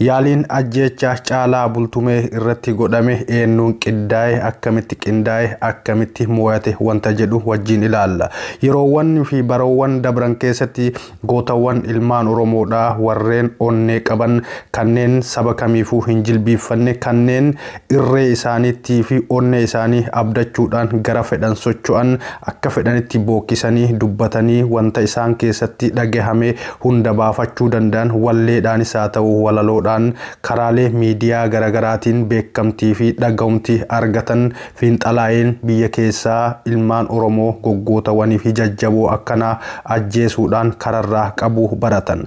Yaaliin ajjeechaa Caalaa Bultumee irratti godhame eennuun qiddaa'e, akkamitti qindaa'e, akkamitti mooyate wanta jedhu wajjiin ilaalla. Yeroowwan fi baroowwan dabran keessatti gootawwan ilmaan Oromoodhaa warreen onnee qaban, kanneen saba kamiifuu hin jilbiiffanne, kanneen irree isaaniitti fi onnee isaanii abdachuudhaan gara fedhan socho'an, akka fedhanitti bookkisanii dubbatanii wanta isaan keessatti dhagahame hunda baafachuu danda'an walleedhaanis haa ta'u walaloodhaan karaalee miidiyaa garagaraatiin beekkamtii fi dhagahumti argatan fiinxalaa'een biyya keessaa ilmaan Oromoo goggootawanii fi jajjaboo akkanaa ajjeesuudhaan kararraa qabu baratan.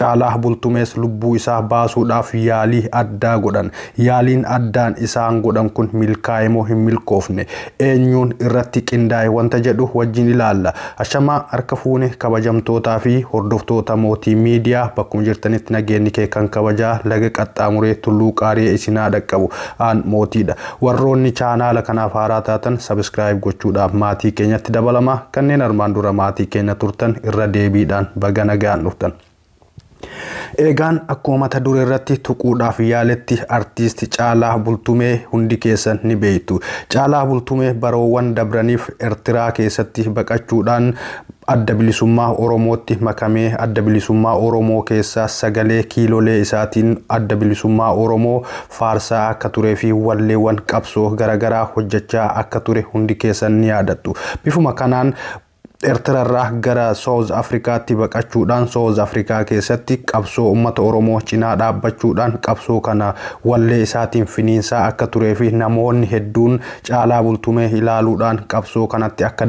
Caalaa Bultumees lubbuu isaa baasuudhaaf yaalii addaa godhan. Yaaliin addaan isaan godhan kun milkaa'e moo hin milkoofne? Eenyuun irratti qindaa'e wanta jedhu wajjin ilaalla. Ashamaa harka fuune kabajamtootaa fi hordoftoota Mootii Miidiyaa bakkuma jirtanitti nageenyi kee kan kabajaa laga qaxxaamuree tulluu qaariyee isin haa dhaqqabu. Aan Mootiidha. Warroonni chaanaala kanaaf haaraa taatan subscribe gochuudhaaf maatii keenyatti dabalamaa kanneen armaan dura maatii keenya turtan irra deebiidhaan baga nagaan dhuftan. Eegaan akkuma mata duree irratti tuquudhaaf yaaletti artiist Caalaa Bultumee hundi keessan ni beektu. Caalaa Bultumee baroowwan dabraniif Ertiraa keessatti baqachuudhaan adda bilisummaa Oromootti makamee adda bilisummaa Oromoo keessaa sagalee kiilolee isaatiin adda bilisummaa Oromoo faarsaa akka turee fi walleewwan qabsoo garagaraa hojjechaa akka ture hundi keessan ni yaadattu. Bifuma kanaan Ertirarraa gara South Afrikaatti baqachuudhaan South Afrikaa keessatti qabsoo uummata Oromoo cinaa dhaabbachuudhaan qabsoo kana wallee isaatiin finiinsaa akka turee fi namoonni hedduun Caalaa Bultumee ilaaluudhaan qabsoo kanatti akka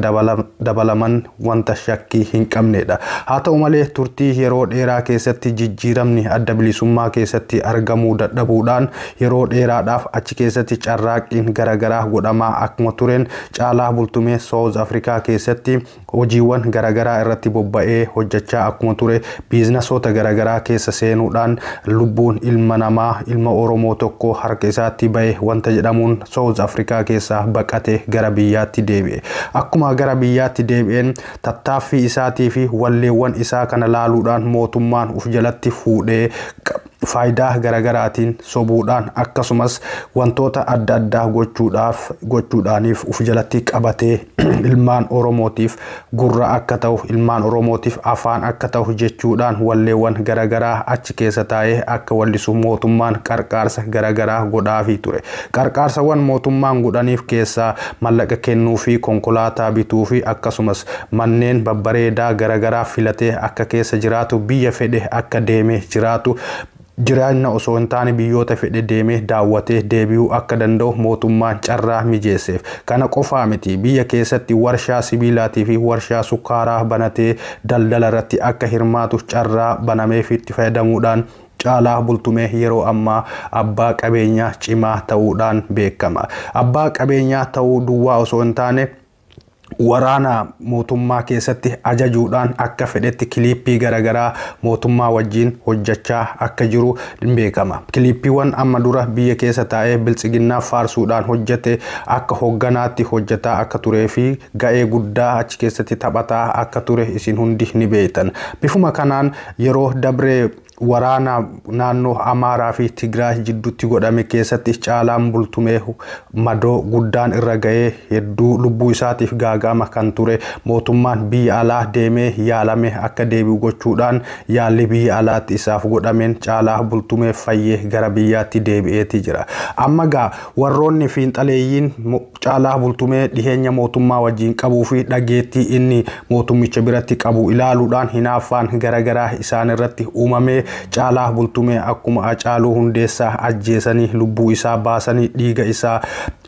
dabalaman wanta shakkii hin qabneedha. Haa ta'u malee turtii yeroo dheeraa keessatti jijjiiramni adda bilisummaa keessatti argamuu dadhabuudhaan yeroo dheeraadhaaf achi keessatti carraaqqiin garagaraa godhamaa akkuma tureen caalaa bultumee South Africa keessatti hojiiwwan garagaraa irratti bobba'ee hojjachaa akkuma ture biiznasoota garagaraa keessa seenuudhaan lubbuun ilma namaa ilma Oromoo tokkoo harka isaatti ba'e wanta jedhamuun South Africa keessaa baqate gara biyyaatti deebi'e. Akkuma gara biyyaatti deebi'een tattaaffii isaatiifi walleewwan isaa kana laaluudhaan mootummaan uf jalatti fuudhee faayidaa garagaraatiin sobuudhaan akkasumas wantoota adda addaa gochuudhaaf gochuudhaaniif uf jalatti qabatee ilmaan Oromootiif gurra akka ta'u ilmaan Oromootiif afaan akka ta'u jechuudhaan walleewwan garagaraa achi keessa taa'ee akka wallisu mootummaan qarqaarsa garagaraa godhaafii ture. Qarqaarsawwan mootummaan godhaniif keessaa mallaqa kennuu fi konkolaataa bituu fi akkasumas Manneen babbareedaa garagaraa filatee akka keessa jiraatu, biyya fedhe akka deemee jiraatu, jiraanna osoo hin taane biyyoota fedhe deemee daawwatee deebi'uu akka danda'u mootummaan carraa mijeesseef. Kana qofaa miti, biyya keessatti warshaa sibiilaatii fi warshaa sukkaaraa banatee daldala irratti akka hirmaatu carraa banameefiitti fayyadamuudhaan Caalaa Bultumee yeroo ammaa abbaa qabeenyaa cimaa ta'uudhaan beekama. Abbaa qabeenyaa ta'uu duwwaa osoo hin taane, waraana mootummaa keessatti ajajuudhaan akka fedhetti kiliippii garaagaraa mootummaa wajjin hojjechaa akka jiru ni beekama. Kiliippiiwwan amma dura biyya keessa taa'ee biltsiginnaa faarsuudhaan hojjete akka hogganaatti hojjetaa akka turee fi ga'ee guddaa achi keessatti taphataa akka ture isin hundi ni beektan. Bifuma kanaan yeroo dabre waraana naannoo Amaaraa fi Tigraay jidduutti godhame keessatti caalaan bultumee madoo guddaan irra ga'ee hedduu lubbuu isaatiif gaaga'ama kan ture mootummaan biyya alaa deemee yaalame akka deebi'u gochuudhaan yaalli biyya alaatti isaaf godhameen caalaa bultumee fayyee gara biyyaatti deebi'eeti jira. Amma gaa warroonni fiinxaleeyyiin Caalaa Bultumee dhiheenya mootummaa wajjin qabuu fi dhageettii inni mootummicha biratti qabu ilaaluudhaan hinaaffaan garagaraa isaanirratti uumamee Caalaa Bultumee akkuma Acaaluu Hundeessaa ajjeesanii lubbuu isaa baasanii dhiiga isaa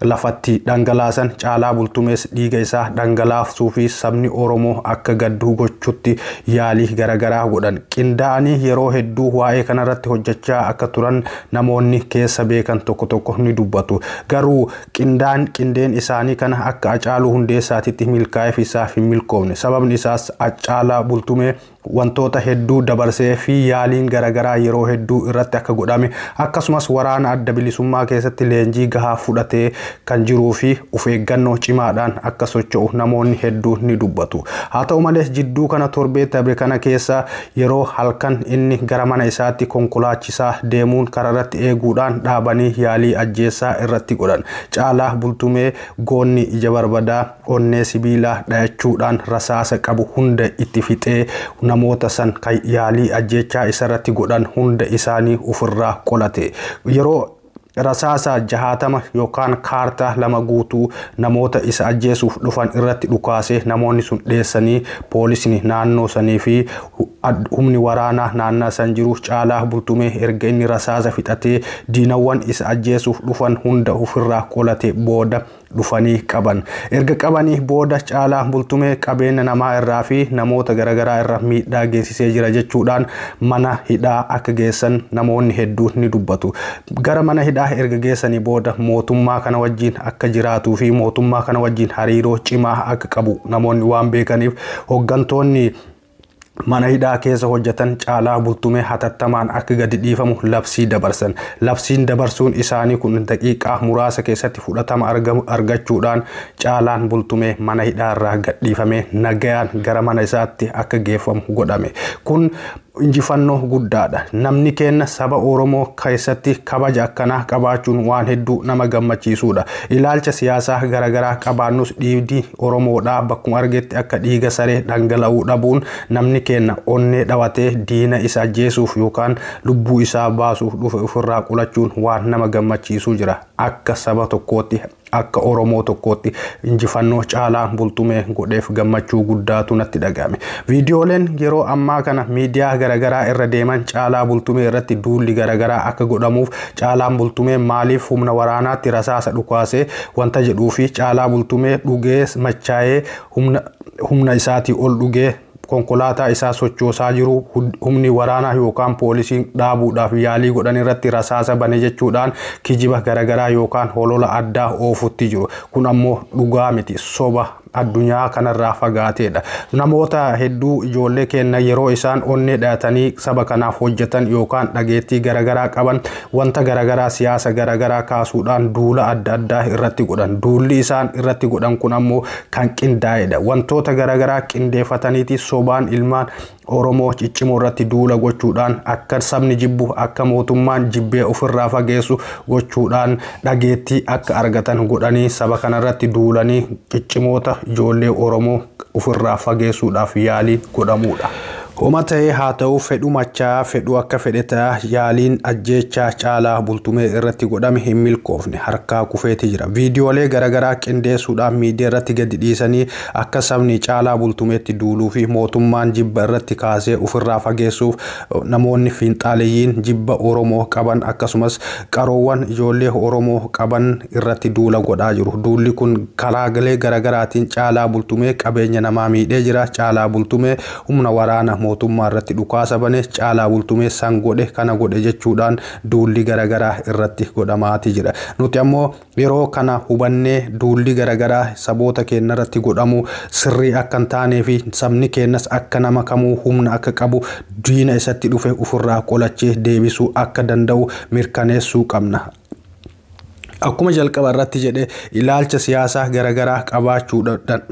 lafatti dhangalaasan Caalaa Bultumees dhiiga isaa dhangalaafsuu fi sabni Oromoo akka gaddu gochutti yaalii garagaraa godhan. Qindaa'anii yeroo hedduu waa'ee kanarratti hojjechaa akka turan namoonni keessa beekan tokko tokko ni dubbatu. Garuu Qindaan, Qindeen isaanii kana akka Acaaluu Hundeessaatitti milkaa'eef isaaf hin milkoofne. Sababni isaas Accaalaa Bultumee wantoota hedduu dabarsee fi yaaliin garagaraa yeroo hedduu irratti akka godhame akkasumas waraana adda bilisummaa keessatti leenjii gahaa fudhatee kan jiruu fi of eeggannoo cimaadhaan akka socho'u namoonni hedduun ni dubbatu. Haa ta'u malees jidduu kana torbee dabre kana keessa Yeroo halkan inni gara mana isaatti konkolaachisaa deemuun kararratti eeguudhaan dhaabanii yaalii ajjeessaa irratti godhan. Caalaa Bultumee goonni ija barbadaa, onnee sibiilaa dhayachuudhaan rasaasa qabu hunda itti fixee namoota san kan yaalii ajjeechaa isarratti godhan hunda isaanii ufirraa qolate. Yeroo Rasaasa jahaatama yookaan kaartaa lama guutuu namoota isa ajjeesuuf dhufan irratti dhukaase namoonni sun dheessanii poolisni naannoo sanii fi humni waraanaa naannaa san jiru caalaa bultumee erga inni rasaasa fixatee diinawwan isa ajjeesuuf dhufan hunda ofirraa qolate booda dhufanii qaban. Erga qabanii booda Caalaa Bultumee qabeenya namaa irraa fi namoota garagaraa irra miidhaa geessisee jira jechuudhaan mana hidhaa akka geessan namoonni hedduun ni dubbatu. Gara mana hidhaa erga geessanii booda mootummaa kana wajjin akka jiraatuu fi mootummaa kana wajjin hariiroo cimaa akka qabu namoonni waan beekaniif hoggantoonni mana hidhaa keessa hojjetan Caalaa Bultumee hatattamaan akka gadi dhiifamu labsii dabarsan. Labsiin dabarsuun isaanii kun daqiiqaa muraasa keessatti fudhatama argamu argachuudhaan Caalaan Bultumee mana hidhaa irraa gadhiifamee nagayaan gara mana isaatti akka geeffamu godhame. Kun injifannoo guddaadha. Namni keenna saba Oromoo keessatti kabaja akkanaa qabaachuun waan hedduu nama gammachiisuudha. Ilaalcha siyaasaa garagaraa qabaannus dhiibdii Oromoodhaa bakkuma argetti akka dhiiga saree dhangala'uu dhabuun namni keenna onnee dhawatee diina isa ajjeesuuf yookaan lubbuu isaa baasuuf dhufe ofirraa qolachuun waan nama gammachiisuu jira. Akka saba tokkootti, akka Oromoo tokkootti injifannoo Caalaa Bultumee godheef gammachuu guddaatu natti dhaga'ame. Viidiyooleen yeroo ammaa kana miidiyaa garagaraa irra deeman Caalaa Bultumee irratti duulli garagaraa akka godhamuuf Caalaan Bultumee maaliif humna waraanaatti rasaasa dhukaase wanta jedhuu fi Caalaa Bultumee dhugee machaa'ee humna, humna isaatii ol dhugee konkolaataa isaa sochoosaa jiru humni waraanaa yookaan poolisiin dhaabuudhaaf yaalii godhan irratti rasaasa bane jechuudhaan kijiba garagaraa yookaan holola addaa oofutti jiru. Kun ammoo dhugaa miti, soba addunyaa kanarraa fagaateedha. Namoota hedduu ijoollee keenya yeroo isaan onnee dhayatanii saba kanaaf hojjetan yookaan dhageettii garagaraa qaban wanta garagaraa siyaasa garagaraa kaasuudhaan duula adda addaa irratti godhan. Duulli isaan irratti godhan kun ammoo kan qindaa'edha. Wantoota garagaraa qindeeffataniiti sobaan ilmaan Oromoo ciccimoo irratti duula gochuudhaan akka sabni jibbu akka mootummaan jibbee ofirraa fageessu gochuudhaan dhageettii akka argatan godhanii saba kanarratti duulanii ciccimoota ijoollee Oromoo ofirraa fageessuudhaaf yaalii godhamuudha. Homa ta'ee haa ta'u fedhu machaa fedhu akka fedhe ta'a yaaliin ajjeechaa caalaa bultumee irratti godhame hin milkoofne harkaa kufeeti jira. Viidiyoolee garagaraa qindeessuudhaan miidiyaa irratti gadi dhiisanii Akka sabni caalaa bultumeetti duuluu fi mootummaan jibba irratti kaasee ofirraa fageessuuf namoonni fiinxaaleyyiin jibba Oromoo qaban akkasumas qaroowwan ijoollee Oromoo qaban irratti duula godhaa jiru. Duulli kun karaaglee garagaraatiin caalaa bultumee qabeenya namaa miidhee jira. Caalaa bultumee humna waraana mootummaa irratti dhukaasa bane, caalaa bultumee san godhe kana godhe jechuudhaan duulli garagaraa irratti godhamaati jira. Nuti ammoo Yeroo kana hubannee duulli garagaraa saboota keenna irratti godhamu sirrii akka hin taanee fi sabni keennas akka nama kamuu humna akka qabu diina isatti dhufe ufirraa qolachee deebisuu akka danda'u mirkaneessuu qabna. Akkuma jalqaba irratti jedhe ilaalcha siyaasaa garagaraa qabaachuu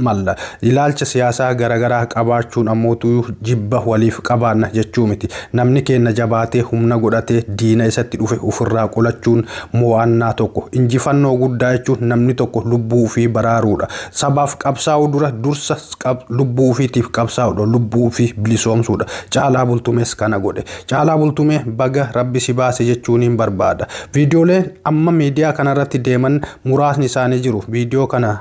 malla. Ilaalcha siyaasaa garagaraa qabaachuun ammootuu jibba waliif qabaanna jechuu miti. Namni keenna jabaatee humna godhatee diina isatti dhufe ufirraa qolachuun Mo'annaa tokko, injifannoo guddaa jechuun namni tokko lubbuu ofii baraaruudha. Sabaaf qabsaa'uu dura dursa lubbuu ofiitiif qabsaa'uudha. Lubbuu ofii bilisoomsuudha. Caalaa Bultumees kana godhe. Caalaa Bultumee baga rabbi si baase jechuuniin barbaada. Viidiyooleen amma miidiyaa kanarratti deeman muraasni isaanii jiru. Viidiyoo kana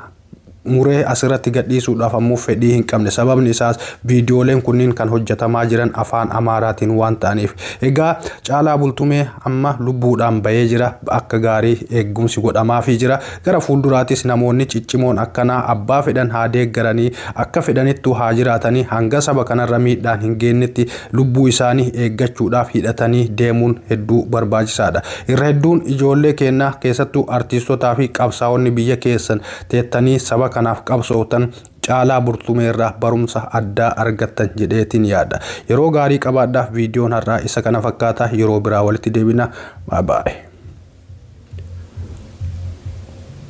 muree asirratti gadhiisuudhaaf ammoo fedhii hin qabne. Sababni isaas viidiyooleen kunniin kan hojjetamaa jiran afaan Amaaraatiin waan ta'aniif. Egaa Caalaa Bultumee amma lubbuudhaan bahee jira. Akka gaarii eegumsi godhamaafii jira. Gara fuulduraatis namoonni ciccimoon akkanaa abbaa fedhan haa deeggaranii, akka fedhanittuu haa jiraatanii hanga saba kanarra miidhaan hin geennetti Lubbuu isaanii eeggachuudhaaf hidhatanii deemuun hedduu barbaachisaadha. Irra hedduun ijoollee keennaa keessattuu artiistotaa fi qabsaa'onni biyya keessan teettanii saba kanaaf qabsooftan Caalaa Burtumee irraa barumsa addaa argattan jedheetiin yaada. Yeroo gaarii qabaadhaa viidiyoon har'aa isa kana fakkaata yeroo biraa walitti deebina. Bye bye.